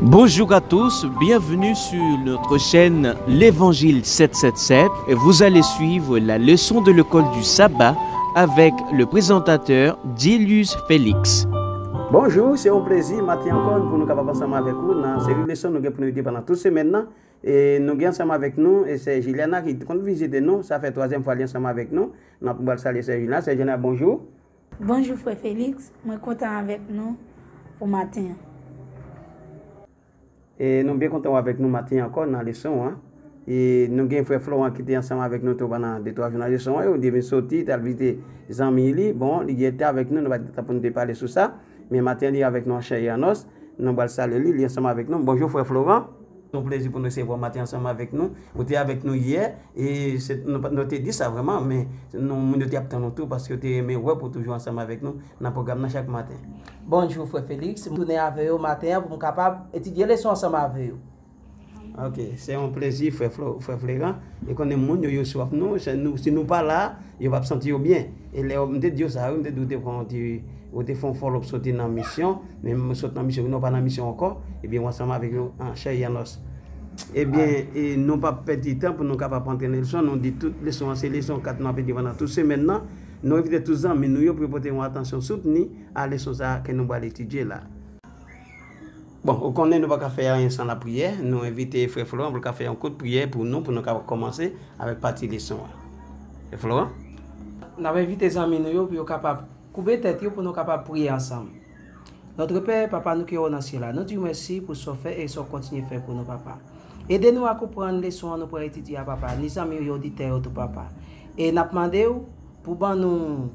Bonjour à tous, bienvenue sur notre chaîne L'Évangile 777. Vous allez suivre la leçon de l'école du sabbat avec le présentateur Dilius Félix. Bonjou, se yon plezi maten ankò pou nou kapab ansanm avèk ou nan seri leson nou gen pou nou ede pandan tout semèn nan. E nou gen ansanm avèk nou e sè Juliana ki konn vizite nou, sa fè twazyèm fwa li ansanm avèk nou. Nan pou bal salye sè Juliana, sè Juliana bonjou. Bonjou frè Felix, mwen kontan avèk nou pou maten an. E nou byen kontan ou avèk nou maten an ankò nan leson an. E nou gen frè Florent ki te ansanm avèk nou tou pandan de twa jou nan leson an yo, li te vin soti, te al vizite zanmi li. Bon, li gen tan avèk nou, nou pa gen tan pou nou te pale sou sa. Men maten an li avèk nou an chè e an nòs. Nou pral salye li, li ansanm avèk nou. Bonjou frè Florent. Se yon plezi pou n resevwa w maten ansanm avèk nou. Ou te avèk nou yè, e se nou te di sa vrèman, men moun yo te ap tann ou tou paske yo te renmen wè pou w toujou ansanm avèk nou nan pwogram nan chak maten. Bonjou frè Félix, m tounen avè yo maten an pou m kapab etidye leson ansanm avè yo. Ok, se yon plezi frè Fleran, e konnen moun yo yo swaf nou, si nou pa la, yo p ap santi yo byen. E lè yo, m te di yo sa wi, m te di w te pran yon ti. Ou te fè yon fòlòp sote nan misyon, men mwen sot nan misyon, non pa nan misyon ankò, ebyen ou ansanm avèk nou an chè e an nòs. Ebyen, e nou pa p pèdi tan pou nou kapab antre nan leson, nou di tout leson an se leson 4 nou ap etidye pandan tout semèn nan, nou envite tout zanmi nou yo pou yo pote yon atansyon soutni a leson sa a ke nou pral etidye la. Bon, ou konnen nou pa ka fè anyen san lapriyè, nou envite frè Florent pou l ka fè yon kout priyè pou nou, pou nou kapab kòmanse avèk pati leson an. Frè Florent? N ap envite zanmi nou yo pou yo kapab Koube tèt yo pou nou kapab priye ansanm. Notre Pè, Papa nou ki o nan Sye la, nou di w mèsi pou sa w fè e sa w kontinye fè pou nou, Papa. Ede nou a konprann leson an nou pral etidye a, Papa, ni zanmi yo, oditè yo tou, Papa. E n ap mande w pou ban nou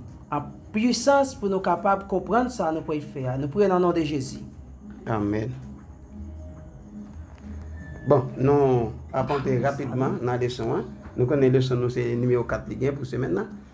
pwisans pou nou kapab konprann sa nou pral fè a. Nou priye nan non de Jezi. Amen. Bon, nou ap antre rapidman nan leson an. Nou konnen leson nou se nimewo 4 li gen pou semèn nan.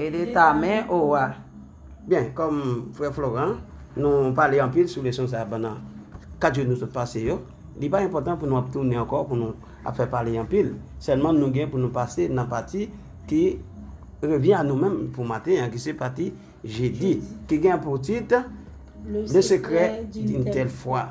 Ede ta men o wa. Byen, kòm frè Floran, nou pale anpil sou leson sa a pandan 4 jou nou sot pase yo, li pa enpòtan pou nou ap tounen ankò pou nou ap fè pale anpil, sèlman nou gen pou nou pase nan pati ki revyen a nou menm pou maten an ki se pati jedi ki gen pou tit. Le secret d'une telle foi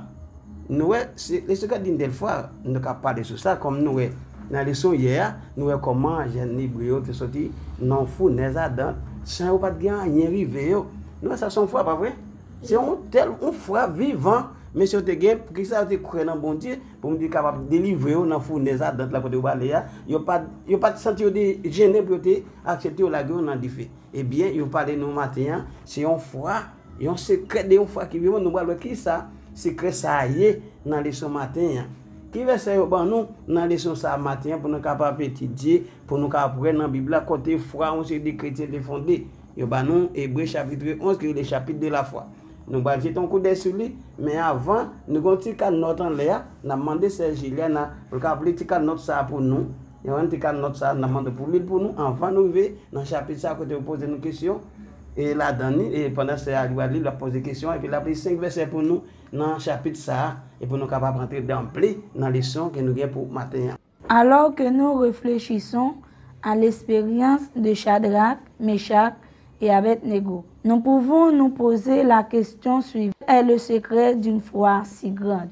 Nou wè, le secret d'une telle foi Nou ka pale sou sa kòm nou wè Nan leson yè a, nou wè kòman jèn Lebre yo te soti nan yon founèz adan San yo pa t gen anyen rive yo Nou wè sa se yon foi pa vre? Se yon tèl, yon foi vivan Mesye yo te gen, poukisa yo te kwè nan Bondye Pou Bondye kapab delivre yo nan founèz adan la kote yo prale a Yo pa t, yo pa t santi yo te jennen pou yo te aksepte yo lage yo nan dife Ebyen, yo pale nou maten an, se yon foi Yon sekrè de yon fwa ki vivan, nou pral wè kisa sekrè sa a ye nan leson maten an. Ki vèsè yo ban nou nan leson sa a maten an pou nou kapab etidye, pou nou kapab wè nan Bib la kote fwa yon seri de kretyen te fonde? Yo ban nou Ebre chapitre 11 ki rele Chapitre de la foi. Nou pral jete yon koudèy sou li, men avan, nou gen yon ti kad nòt anlè a, n ap mande sè Juliana pou l kapab li ti kad nòt sa a pou nou. Yon ann pika nòt sa a nan mande pou li l pou nou anvan nou rive nan chapit sa a kote yo poze nou kesyon e ladan li e pandan sè a li pral li l ap poze kesyon an epi l ap li senk vèsè pou nou nan chapit sa a e pou nou kapab antre danble nan leson ke nou gen pou maten an. Alors que nous réfléchissons à l'expérience de Chadraque, Meshach et Abednego, nous pouvons nous poser la question suivante, Quel est le secret d'une foi si grande?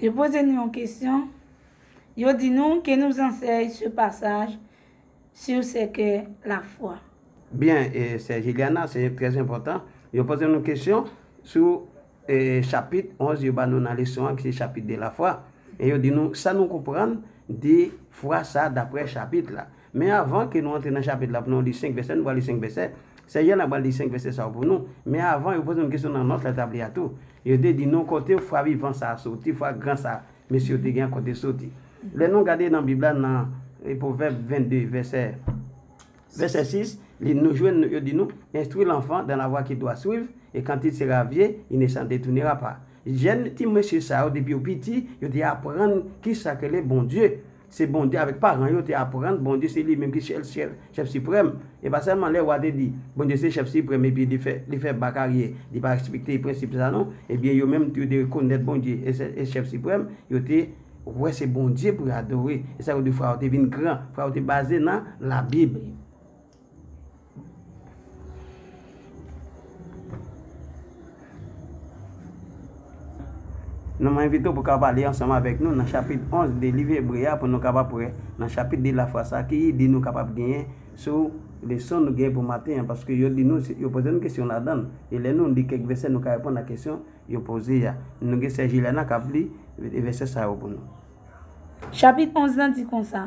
Yo poze nou yon kesyon, yo di nou, Que nous enseigne ce passage sur ce qu'est la foi? Byen, sè Juliana, se trè enpòtan. Yo poze nou kesyon sou chapit 11 yo ba nou nan leson an ki se Chapitre de la foi e yo di nou sa nou konprann de fwa sa daprè chapit la. Men avan ke nou antre nan chapit la pou nou li 5 vèsè, nou pral li 5 vèsè. Sè Jan apral li 5 vèsè sa yo pou nou. Men avan, yo poze nou kesyon nan nòt la tabli a tou. Yo te di nou kote fwa vivan sa a soti, fwa gran sa a mesye yo te gen an kote li soti. Lè nou gade nan Bib la nan Pwovèb 22 vèsè, vèsè 6, li nou jwenn nou yo di nou, Enstwi lanfan dan la vwa kil dwa swiv, e kant il sera vye, il ne s'en detounera pas. Jèn ti mesye sa yo depi yo piti, yo te aprann kisa k rele Bondye. Se Bondye avèk paran yo te aprann Bondye se li menm ki sèl Chèf Siprèm. E pa sèlman lè wa te di, Bondye se Chèf Siprèm epi li fè bak aryè, li pa respekte prensip sa non. Ebyen yo menm tou yo te rekonèt Bondye e Chèf Siprèm, yo te wè se Bondye pou yo adore. E sa yo di, Fwa yo te vin gran, fwa yo te baze nan Labib. Nou mwen envite w pou kapab li ansanm avèk nou nan chapit 11 de liv Ebre a pou nou kapab pre nan chapit de lafwa sa a ki ide nou kapab genyen sou leson nou genyen pou maten an paske yo di nou yo poze nou kesyon ladan l e lè nou li kèk vèsè nou ka reponn ak kesyon yo poze a nou gen sè Juliana k ap li vèsè sa yo pou nou. Chapit 11 lan di konsa.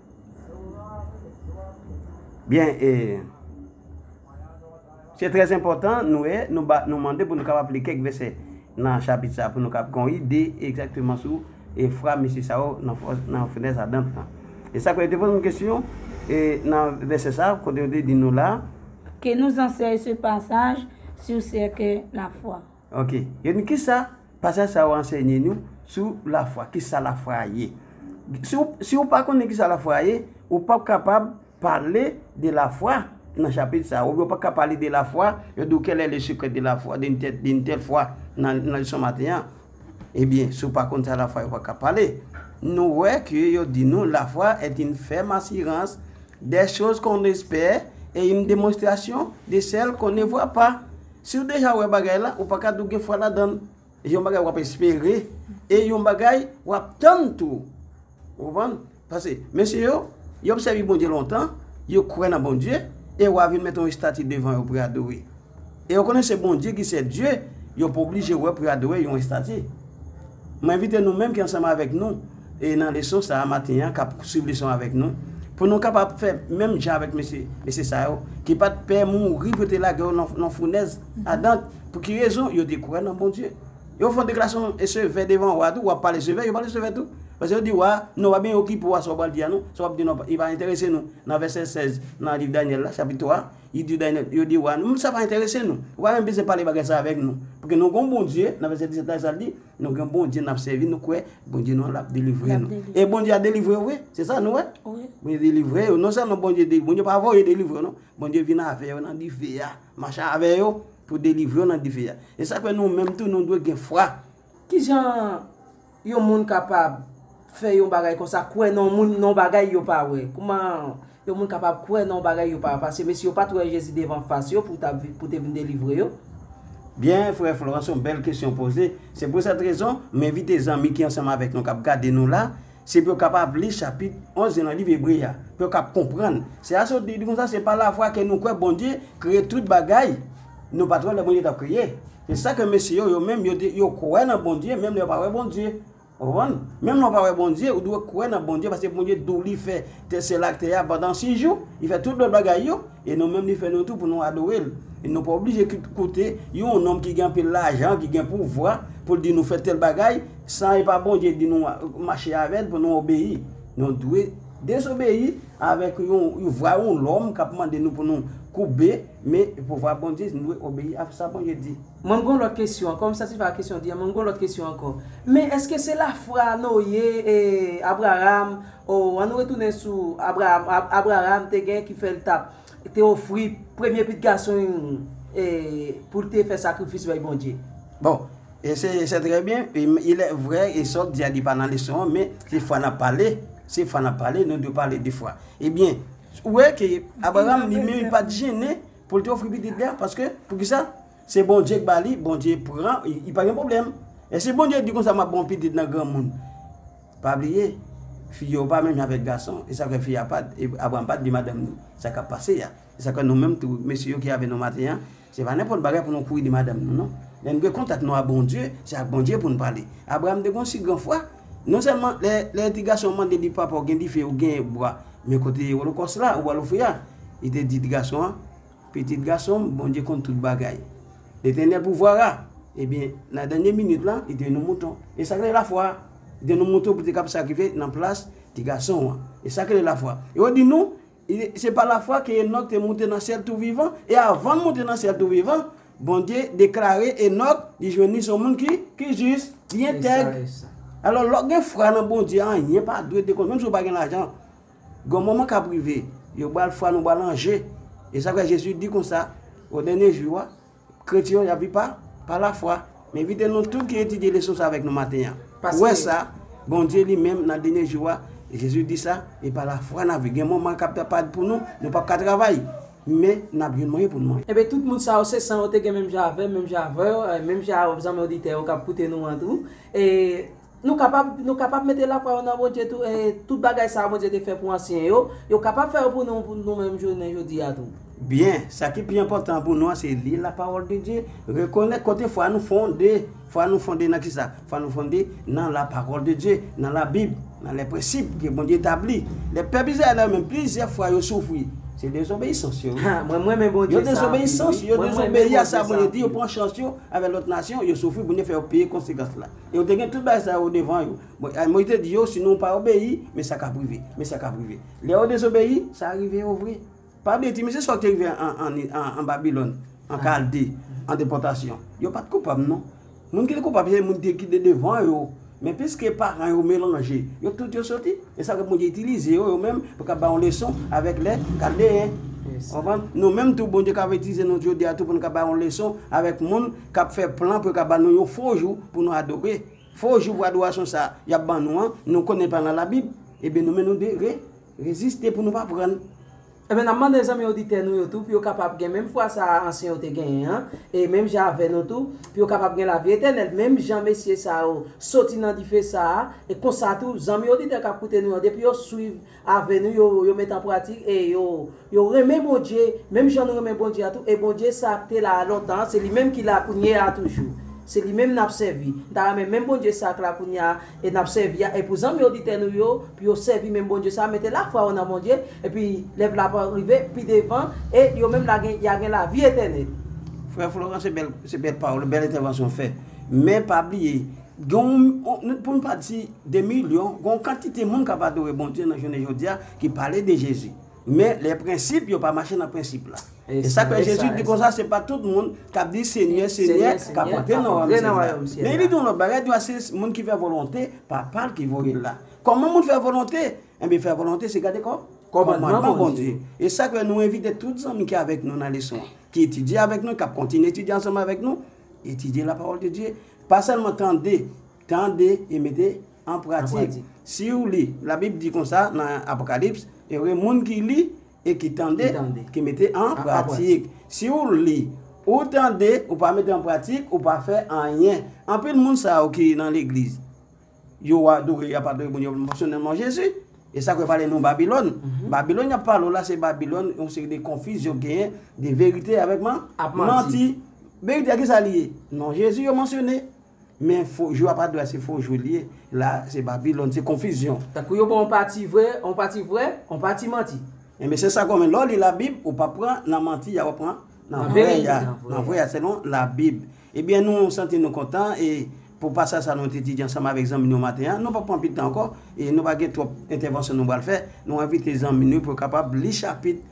Byen e Se trè enpòtan nou e nou ba nou mande pou nou kapab li kèk vèsè nan chapit sa pou nou kapab gon ide egzakteman sou e fra mesye sa yo nan fenèz adan an. E sa kwè yo te poze yon kesyon e nan vèsè sa kote yo te di nou la. Ke nous enseigne ce passage sur ce qu'est la foi? Ok. Yo di, Kisa pasaj sa yo ansenye nou sou lafwa? Kisa lafwa a ye? Si w, si w pa konnen kisa lafwa a ye, ou pap kapab pale de lafwa nan chapit sa a. Oubyen ou pa ka pale de lafwa, yo di w quel est le secret de la foi, d'une telle, d'une telle foi nan, nan leson maten an. Ebyen, si w pa konn sa lafwa ye, ou pa ka pale. Nou wè ke yo di nou, la foi est une ferme assurance des choses qu'on espère et une démonstration de celles qu'on ne voit pas. Siw deja wè bagay la ou paka dou gen fwa ladanl e yon bagay wap espere e yon bagay wap tann tou ou konprann pase mesye yo yo sèvi Bondye lontan yo kwè nan Bondye e wa vin met yon estati devan yo pou yo adore e yo konnen se Bondye ki sèl Dye yo poblije wè pou yo adore yon estati. M envite nou menm ki ansanm avèk nou e nan leson sa a maten an, k ap suiv leson an avèk nou, pou nou kapab fè menm jan avèk mesye, mesye sa yo, ki pa t pè mouri pou yo te lage yo nan founèz adant. Pou ki rezon? Yo te kwè nan Bondye. Yo fè yon deklarasyon sevè devan wa a tou, wa a pale sevè, yo pale sevè tou. Paske yo di wa a, Non, pa byen okipe w a sa w pral di a non, sa w ap di non, li pa enterese nou. Nan vèsè 16 nan liv Danyèl la, chapit 3, Li di Day nan, yo di wa nou, sa pa enterese nou. Ou pa menm bezwen pale bagay sa avèk nou. Paske nou gen yon Bondye, nan vèsè 17 la sa l di, nou gen yon Bondye n ap sèvi, nou kwè Bondye nou an l ap delivre nou. E Bondye a delivre yo vre, se sa nou wè? Bondye delivre yo. Non sèlman Bondye delivre, Bondye pa voye delivre yo non. Bondye vin avè yo nan dife a, mache avè yo pou delivre yo nan dife a. E sa k fè nou menm tou nou dwe gen fwa. Ki jan yon moun kapab fè yon bagay konsa, kwè nan yon moun, nan yon bagay yo pa wè? Kouman yon moun kapab kwè nan yon bagay yo pa wè? Paske mesye yo pa t wè Jezi devan fas yo pou ta, pou te vin delivre yo. Byen, frè Florent, se yon bèl kesyon w poze. Se pou sèt rezon, m envite zanmi ki ansanm avèk nou k ap gade nou la, se pou yo kapab li chapit 11 nan liv Ebre a, pou yo kab konprann. Se a sot li di konsa, se pa lafwa ke nou kwè Bondye kreye tout bagay nou pa t wè lè Bondye t ap kreye. Se sa ke mesye yo, yo menm, yo te, yo kwè nan Bondye menm lè yo pa wè Bondye. Ou konprann? Menm lè ou pa wè Bondye, ou dwe kwè nan Bondye paske Bondye di w li fè tè syèl ak tè a pandan sis jou, li fè tout lòt bagay yo, e nou menm li fè nou tou pou nou adore l. E nou pa oblije koute yon nonm ki gen anpil lajan, ki gen pouvwa pou l di nou fè tèl bagay san e pa Bondye di nou mache avè l pou nou obeyi. Nou dwe dezobeyi Avèk yon vwa yon lòm k ap mande nou pou nou koube men pou vwa Bondye, nou dwe obeyi a sa Bondye di. Mwen gen yon lòt kesyon ankò, m satisfè ak kesyon w di an, men mwen gen yon lòt kesyon ankò. Men èske se lafwa Noye, Abraram, o, an nou retounen sou Abraram, Abraram te gen ki fè l t ap te ofri premye pit gason e pou l te fè sakrifis bay Bondye. Bon, e se se trè byen, ilè vrè e sa w di a li pa nan leson an, men se fwa n ap pale, se fwa n ap pale, nou dwe pale de fwa. E byen, ou wè ke Abraram li menm li pa t jennen pou l te ofri pitit li a, paske, poukisa? Se Bondye k ba li, Bondye pran, y pa gen pwoblèm. E si Bondye di konsa m ap ba w pitit nan granmoun? Pa bliye, fi yo pa menm jan avèk gason. E sa fè fi a pa t, e Abraram pa t di madanm ni sa k ap pase a. E sa k fè nou menm tou, mesye yo ki avè nou maten an, se pa nenpòt bagay pou nou kouri di madanm nou non. Lè n gen kontak nou a Bondye, se ak Bondye pou n pale. Abraram te gen yon si gran fwa, non sèlman lè, lè ti gason an mande li, Papa, ou gen dife, ou gen bwa, men kote olokòs la, ou pral ofri a? Li te di ti gason an, Pitit gason m, Bondye konn tout bagay. Letènèl pouvwa a, ebyen, nan dènye minit la, li te yon mouton. E sa k rele lafwa? Li te yon mouton pou te kab sakrifye nan plas ti gason an. E sa k rele lafwa? E yo di nou, Se pa lafwa ke Enòk te moute nan syèl tou vivan, e avan l moute nan syèl tou vivan, Bondye deklare Enòk li jwenn li se yon moun ki jis, ki entèg. Alò, lè w gen fwa nan Bondye, anyen pa dwe dekonn, menm si w pa gen lajan. Gon moman kap rive yo bal fwa nou bal anje e sa fè Jezi di konsa o dènye jou a kretyen yo yap viv pa pa la fwa m envite nou tout ki etidye leson sa avèk nou maten an wè sa Bondye li menm nan dènye jou a Jezi di sa e pa la fwa nap viv gen moman kap ta pa pou nou nou pap ka travay men nap jwenn mwayen pou nou manje. Ebyen tout moun sa yo se san yo te gen menm jan avèm menm jan avèw menm jan avèm zanmi oditè yo kap koute nou an tou e. Nou kapab, nou kapab mete lafwa yo nan Bondye tou, e tout bagay sa yo Bondye te fè pou ansyen yo, yo kapab fè yo pou nou, pou nou menm jounen jodi a tou. Byen, sa ki pi enpòtan pou nou an se li Lapawòldedye, rekonèt kote fwa nou fonde, fwa nou fonde nan kisa? Fwa nou fonde nan Lapawòldedye, nan Labib, nan lè prensip ke Bondye tabli. Lè pèp Izrayèl la yo menm, plizyè fwa yo soufri, se dezobeyisans yo wi. Mwen renmen Bondye sa anpil wi. Yo dezobeyisans, yo dezobeyi a sa Bondye di, yo pran chans yo avèk lòt nasyon, yo soufri, Bondye fè yo peye konsekans la. E yo te gen tout bagay sa yo devan yo. Moyiz te di yo, si nou pa obeyi, men sa k ap rive, men sa k ap rive. Lè yo dezobeyi, sa rive yo vre. Pa bliye ti mesye sa yo te rive an Babilòn, an Kalde, an depòtasyon, yo pa t koupab non. Moun ki te koupab se moun ki te devan yo. Men piske paran yo melanje, yo tout yo soti. E sa fè Bondye itilize yo, yo menm, pou ka ba yon leson avèk lè Kaldeyen. Ou konprann? Nou menm tou, Bondye ka itilize nou jodi a tou pou nou ka ba yon leson avèk moun. k ap fè plan pou yo ka ban nou yon fo jou pou nou adore. Fo jou pou adorasyon sa a y ap ban nou an, nou konnen pa nan Labib, enben nou menm nou dwe re, reziste pou nou pa pran l. Enben n ap mande zanmi oditè nou yo tou pou yo kapab gen menm fwa sa a ansyen yo te genyen an, e menm jan avè nou tou, pou yo kapab gen lavi etènèl menm jan mesye sa yo soti nan dife sa a, e konsa tou zanmi oditè k ap koute nou yo depi yo suiv Ave nou yo yo met an pratik e yo yo renmen Bondye menm jan nou renmen Bondye a tou e Bondye sa k te la a lontan an se li menm ki la kounye a toujou se li menm n ap sèvi n ta renmen menm Bondye sa k la kounye a e n ap sèvi a e pou zanmi oditè nou yo pou yo sèvi menm Bondye sa a mete lafwa yo nan Bondye epi lè vla pa rive pi devan e yo menm la gen y a gen lavi etènèl. Frè Florent se bèl se bèl pawòl bèl entèvansyon w fè men pa bliye Gen, pou n pa di de milyon, gen yon kantite moun k ap adore Bondye nan jounen jodi a ki pale de Jezi. Men, lè prensip yo pa mache nan prensip la. E sa k fè Jezi di konsa, se pa tout moun k ap di Senyè, Senyè, k ap antre nan wayòm syèl la. Men, li di yon lòt bagay, li di, se moun ki fè volonte Papa l ki voye l la. Kòman moun fè volonte? Enben, fè volonte se gade kòmandman Bondye. E sa k fè nou envite tout zanmi ki avèk nou nan leson an, ki etidye avèk nou, k ap kontinye etidye ansanm avèk nou, Etidye lapawòl de Dye, pa sèlman tande, tande e mete an pratik. Si ou li, Labib di konsa nan Apokalips, Ere moun ki li e ki tande, ki mete an pratik. Si ou li, ou tande, ou pa mete an pratik, ou pa fè anyen. Anpil moun sa yo ki nan legliz. yo wa adore yap adore moun yo pa mansyone non Jezi. E sa k yo pale nou Babilòn. Babilòn yap pale w la se Babilòn yon seri de konfizyon k genyen de verite avèk man Ak manti. manti. Verite a ki sa li ye? Non Jezi yo mansyone. Men fo jou yap adore a se fo jou li ye. La se Babilòn, se konfizyon. Tankou yo ba w yon pati vre, yon pati vre, yon pati manti. Enben se sa k yo men lè w li labib ou pap pran nan manti a wap pran nan Nan vre verite ya. a. Nan vre a selon labib. Ebyen nou santi nou kontan e pou pasaj sa nou t etidye ansanm avèk zanmi nou maten an, nou pap pran anpil tan ankò e nou pa gen twòp entèvansyon nou pral fè, nou envite zanmi nou yo pou yo kapab li chapit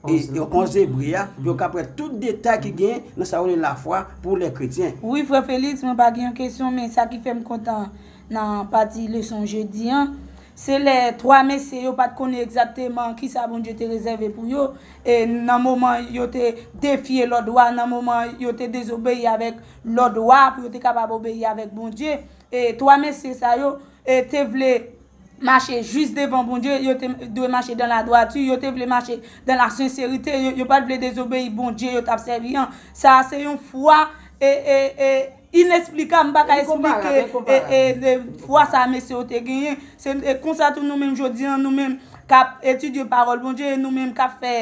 11 Ebre a pou yo kab wè tout detay ki gen nan sa yo rele lafwa pou lè kretyen. Wi frè Félix mwen pa gen yon kesyon men sa ki fèm kontan nan pati leson jodi an se lè 3 mesye yo pat konnen egzakteman kisa Bondye te rezève pou yo nan moman yo te defye lòd wa, nan moman yo te dezobeyi avèk lòd wa pou yo te kapab obeyi avèk Bondye. E twa mesye sa yo te vle mache jis devan Bondye, yo te dwe mache dan ladwati, yo te vle mache dan lasenserite, yo pa t vle dezobeyi Bondye yo t ap sèvi an. Sa a se yon fwa. Inesplikab, m pa ka esplike fwa sa mesye yo te genyen. Se konsa tou nou menm jodi an, nou menm k ap etidye Pawòl Bondye e nou menm k ap fè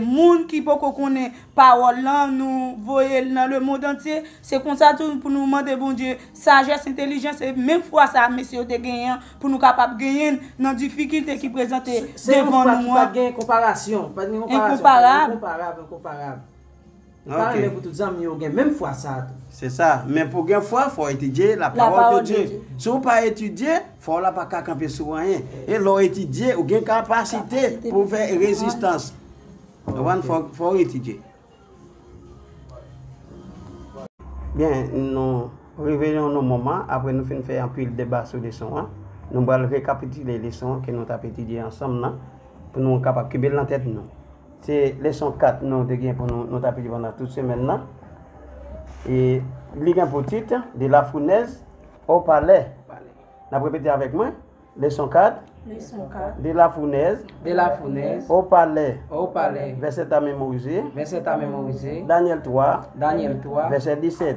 moun ki poko konnen Pawòl lan, nou voye l nan lemondantye. Se konsa tou pou nou mande Bondye sajès, entelijans e menm fwa sa a mesye yo te genyen an pou nou kapab genyen l nan difikilte ki prezante devan nou an. Se yon fwa ki pa gen konparasyon. Enkonparab. Enkonparab. Mwen pa renmen pou tout zanmi yo gen menm fwa sa a tou. Se sa, men pou gen fwa, fò w etidye lapawòl de Dye. Si w pa etidye, fwa w la pa ka kanpe sou anyen. E lè w etidye, ou gen kapasite pou w fè rezistans. Konprann? Fò w etidye. Byen, nou rive nan yon moman, apre nou fin fè anpil deba sou leson an, nou pral rekapitile leson an ke nou t ap etidye ansanm nan, pou nou kapab kenbe l nan tèt nou. Se leson 4 nou te gen pou nou nou tap li pandan tout semèn nan. E li gen pou tit, de la founèz o palè. N ap repete avèk mwen, leson 4, de la founèz o palè. Vèsè ta memorize, Danyèl 3, vèsè 17.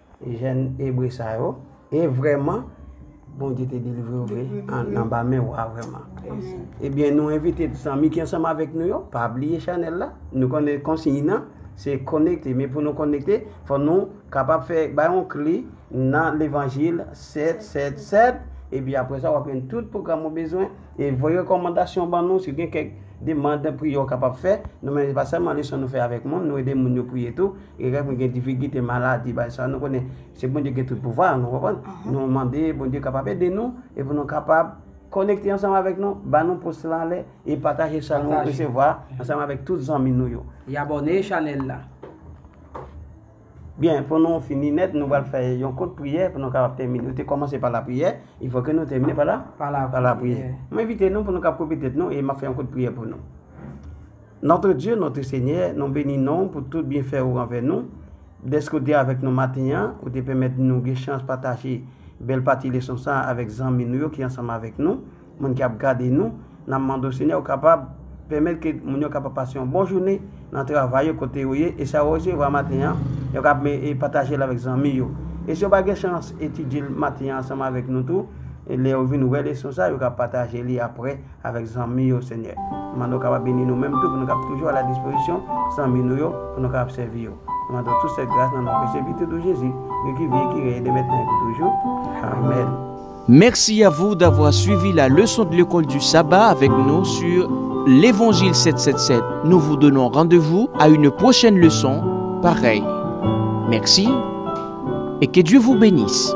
Jèn Ebre sa yo. E vrèman, Bondye te delivre yo vre anba men wa vrèman. Ebyen, nou envite zanmi ki ansanm avèk nou yo, pa bliye chanèl la. Nou konnen konsiy nan, se konekte. Men pou nou konekte, fò nou kapab fè bay yon kle nan levanjil 777. Epi apre sa, w ap jwenn tout pwogram ou bezwen. E voye rekòmandasyon ban nou si gen kèk demann, priyè ou kapab fè. Nou menm se pa sèlman leson nou fè avèk moun, nou ede moun yo priye tou. E lè mwen gen difikilte, maladi, bagay sa yo, nou konnen se Bondye ki gen tout pouvwa a, nou konprann? Nou mande Bondye kapab ede nou e pou nou kapab konekte ansanm avèk nou, ba nou pous lan anlè e pataje sa nou resevwa ansanm avèk tout zanmi nou yo. E abòne chanèl la. Byen, pou nou fini nèt, nou pral fè yon kout priyè pou nou kapab tèmine. Nou te kòmanse pa lapriyè, e fòk nou tèmine pa la? Pa lapriyè. Mwen envite nou pou nou kapab koupe tèt nou e m ap fè yon kout priyè pou nou. Notre Dieu, notre Seigneur, nou beni non w pou tout byenfè ou anvè nou, dèske ou te avèk nou maten an, ou te pèmèt nou gen chans pataje bèl pati leson sa a avèk zanmi nou yo ki ansanm avèk nou, moun ki ap gade nou, n ap mande w Senyè ou kapab pèmèt ke moun yo kapab pase yon bon jounen nan travay yo kote yo ye, e sa yo resevwa maten an yo kab pataje l avèk zanmi yo, e si yo pa gen chans etidye l maten an ansanm avèk nou tou, lè yo vin wè leson sa a yo kab pataje li aprè avèk zanmi yo Senyè. Nou mande w kapab beni nou menm tou pou nou kapab toujou a la dispozisyon zanmi nou yo pou nou kapab sèvi yo. Nou mande w tout sèt gras nan non presye pitit ou Jezi, li ki vi e ki rèy e de mètnen e pou toujou. Amèn. Merci à vous d'avoir suivi la leçon de l'école du sabbat avec nous sur l'Évangile 777. Nous vous donnons rendez-vous à une prochaine leçon pareille. Merci et que Dieu vous bénisse.